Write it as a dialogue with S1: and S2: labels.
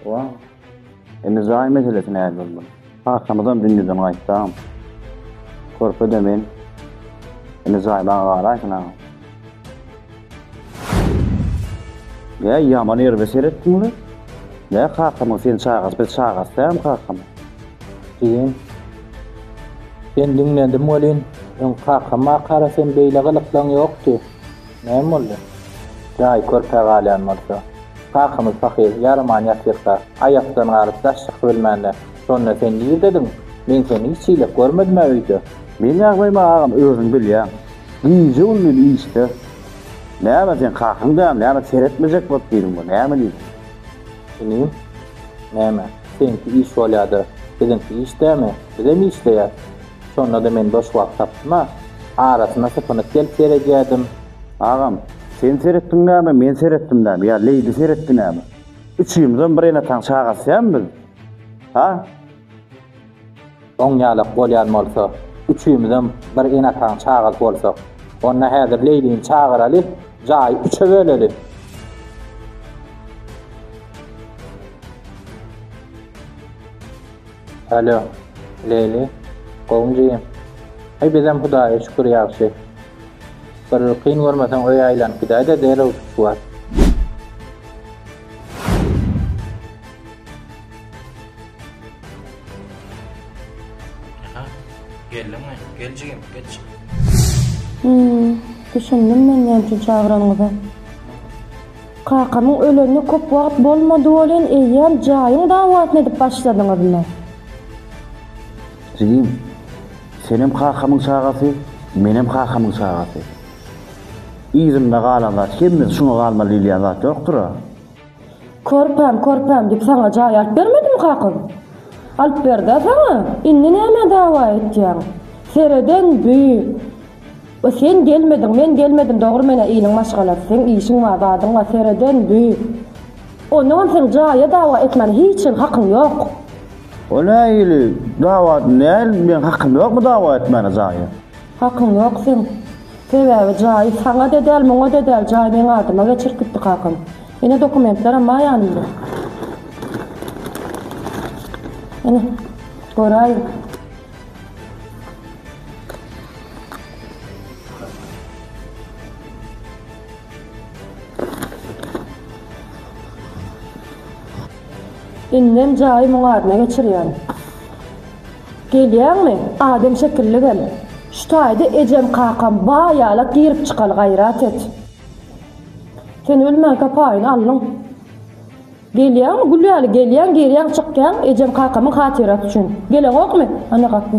S1: Wa. Indi jaý meselesi näl boldy? Kakamyzam dünýeden gaýtdam. Körpe-de men. Indi jaý maňa garaýsyn agam. Jäý, ýaman erbe seretdiňmi? Nä kakamyň sen çagasy, biz çagasy dälmi kakam? Jigim,
S2: sen diňlendim welin, öň kakam-makara sen beýle gylyklaň ýokdy. Näme boldy? Jaý körpä galýan bolsa. Kakymyz pahyr, ýaraman ýatyrka, aýakdan galyp daş çykyp ölmände, şonda sen nirdediň? Men seni hiç hili görmedim-ä öýde. Meň ýagdaýymy
S1: agam özüň bilýäň. Gije-gündiz işde. Näme sen kakaň däl, näme seretmejek bolup diýdiň bu, näme diýdiň? Inim,
S2: näme, seňki iş bolýa-da, biziňki iş dämi, bizem işleýäs. Şonda-da men boş wagt tapdym-a, arasyna sypynyp gelip ýeredýärdim. Agam,
S1: sen seretdiň näme, men seretdim näme ýa Leýli seretdi näme? Üçümizem bir enataň çagasy dämi biz? Ha?
S2: Oň ýalak bolýan bolsa, üçümizem bir enataň çagasy bolsak, onda häzir Leýlini çagyraly, jaýy üçe böleli. Alo. Leyli. Gowunjyym. Heý bizem hudaýa şükür ýagşy. Bir kyn görmeseň öýe aýlanyp gidäýdä derrew tutuş bar. Aha.
S3: Geldiňmi? Gel jigim, geç. Hum.
S4: Düşündim men näme üçin çagyranyňyzy. Kakamyň ölenine köp wagt bolmady welin, eýýäm jaýyň dawasyny edip başladyňyzmy?
S1: Jigim, senem kakamyň çagasy, menem kakamyň çagasy. Yzynda galan zat hemmesi şuňa galmaly diýilýän zat ýokdur-a. Körpäm,
S4: körpäm diýip saňa jaý alyp bermedimi kakam? Alyp berdi-ä saňa. Indi nämä dawa etýäň? Sereden duý! O sen gelmediň men gelmedim dogry menä iliň maşgalasy seň işiň bar zadyň bar sereden dü onagam seň jaýa dawa etmäne hiç hil hakyň ýok. O nä
S1: ili dawa näl meň hakym ýokmy dawa etmäne jaýa. Hakyň ýok
S4: seň sebäbi jaýy saňa de däl muňa de däl jaý meň adyma geçirip gitdi kakam ine dokumentleram bar ýanymda ine göräýiň. Indem jaýy muň adyna geçirýän. Gelýäňmi? Adam şekilli gel. Şu taýda ejem-kakam ba ýalak girip çykaly gaýrat et. Sen ölmänkä paýyny aldyň. Gelýäňmi, gül ýaly gelýäň, girýäň, çykýaň, ejem-kakamyň hatyrasy üçin. Geleňokmy? Ana gapy.